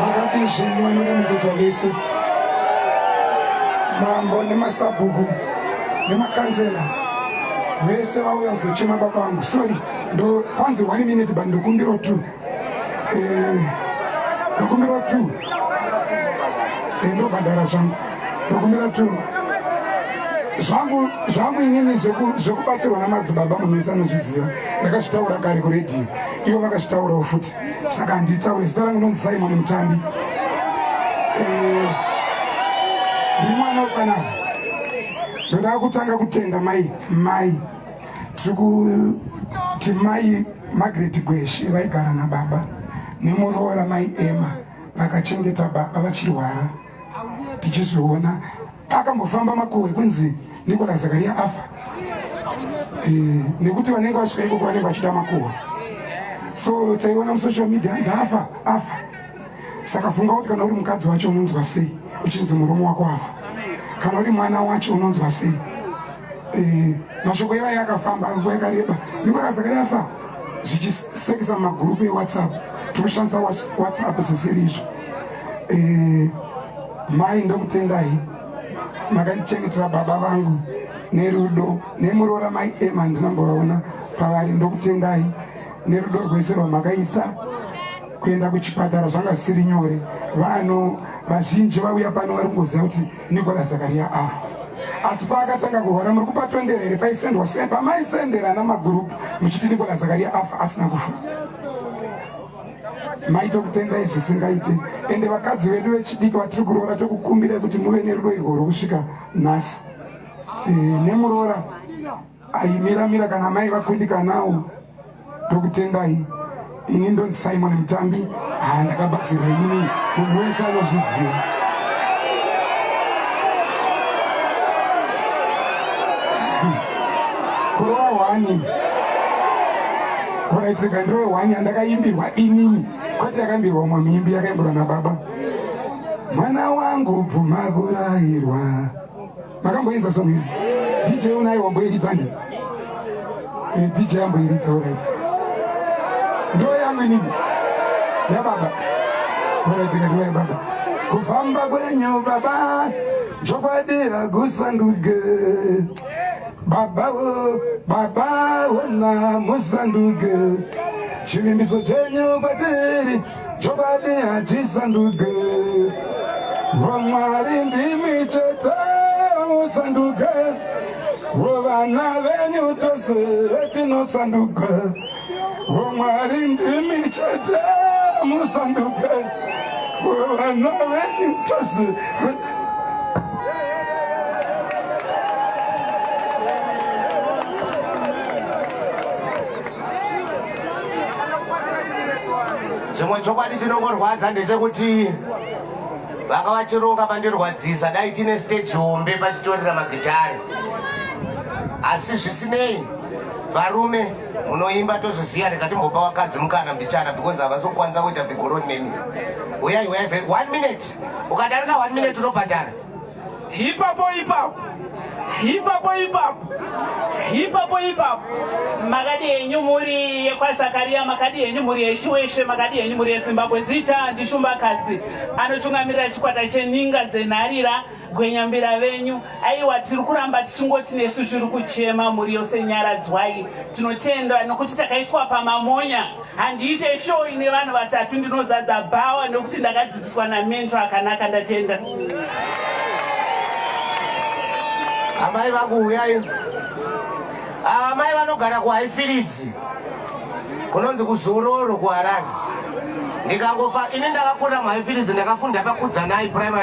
vakapishini vanoda mukudzwa vese mambo nemasabhuku nemakanzela vese vauya kuzochema baba vangu sorry ndo panzi one minute but ndokumbiro two eh, ndokumbira tu eh, ndobhadhara zvangu ndokumbira tu zvangu zvangu inini zvekubatsirwa namadzibaba munhu wese anozviziva ndakazvitaura kare kuredhiyo ivo vakazvitaurawo futi saka handitaure zita rangu nonzi simon mutambi eh, ndimwana ukanaka ndoda kutanga kutenda mai mai tiri kuti mai magret gweshe vaigara nababa nemuroora mai ema vakachengeta baba vachirwara tichizoona akambofamba makuhwe kunzi nikola zakaria afa e, nekuti vanenge vasvika ikoko vanenge vachida makuhwa so taiona musocial media anzi afa afa saka funga kuti kana uri mukadzi wacho unonzwa sei uchinzi murume wako afa kana uri mwana wacho unonzwa sei eh, mashoko ivaye akafamba nguva yakareba nikona zakari afa zvichisekesa mumagurupu ewhatsapp tikushandisa whatsapp zvisiri izvo eh, mai ndokutendai makandichengetera baba vangu nerudo nemuroora mai ema ndinambovaona pavari ndokutendai nerudo rwese rwamakaisa kuenda kuchipatara zvanga zvisiri nyore vanhu vazhinji vauya pano vari kungoziva kuti nikola zakaria afa asi paakatanga kurwara muri kupatondera here paisendwa se pamaisendera namagurupu muchiti nikola zakaria afa asina kufa maito kutendai zvisingaiti ende vakadzi vedu vechidiki vatiri kuroora tokukumbirai kuti muve nerudo irwo rwokusvika nhasi eh, nemuroora Ayimira mira kana mai vakundikanawo ndokutendai ini ndonzi simon mutambi haa ndakabatsirwa inini munhu wese anozviziva kurova hwani kuraitika ndiro hwani yandakaimbirwa inini kwete yakaimbirwa umwe muimbi yakaimbirwa nababa mwana wangu bvuma kurayirwa makamboinza song iyi dj unai wamboiridza ndi eh, dj amboiridza orit ndo yamenini yababa oreteka ndo yababa kufamba kwenyu baba zvokwadira kusanduke baba wo baba wona musanduke chivimbiso chenyu kwatiri Chokwadi hachisanduke, vamwari ndimi chete musanduke, vovana venyu tose tinosanduka, vamwari ndimi chete musanduke, vovana venyu tose chimwe chokwadi chinongorwadza ndechekuti vanga vachironga pandirwadzisa dai tine stage hombe pachitorera magitari asi zvisinei varume munoimba tozviziva ndikatimbopa wakadzi mukana mbichana because havasi kukwanisa kuita vigoroni nemi uyai uyai one minute ukadarika one minute unobhadhara Hipapo hipapo hipapo hipapo hipapo hipapo makadi henyu mhuri yekwazakaria makadi henyu mhuri yeshuweshe makadi henyu mhuri yezimbabwe zita ndishumbakadzi anotungamirira chikwata cheninga dzenharira gwenyambira venyu aiwa tiri kuramba tichingoti nesu tiri kuchema mhuri yose nyaradzwai tinotenda nokuti takaiswa pamamonya handiite show ine vanhu vatatu ndinozadza bhawa nekuti ndakadzidziswa namento akanaka ndatenda amai vakuuyai ava mai vanogara kuhaifiridzi kunonzi kuzororo kuharare ndikangofa ini ndakakura muhaifiridzi ndakafunda pakudzanai primary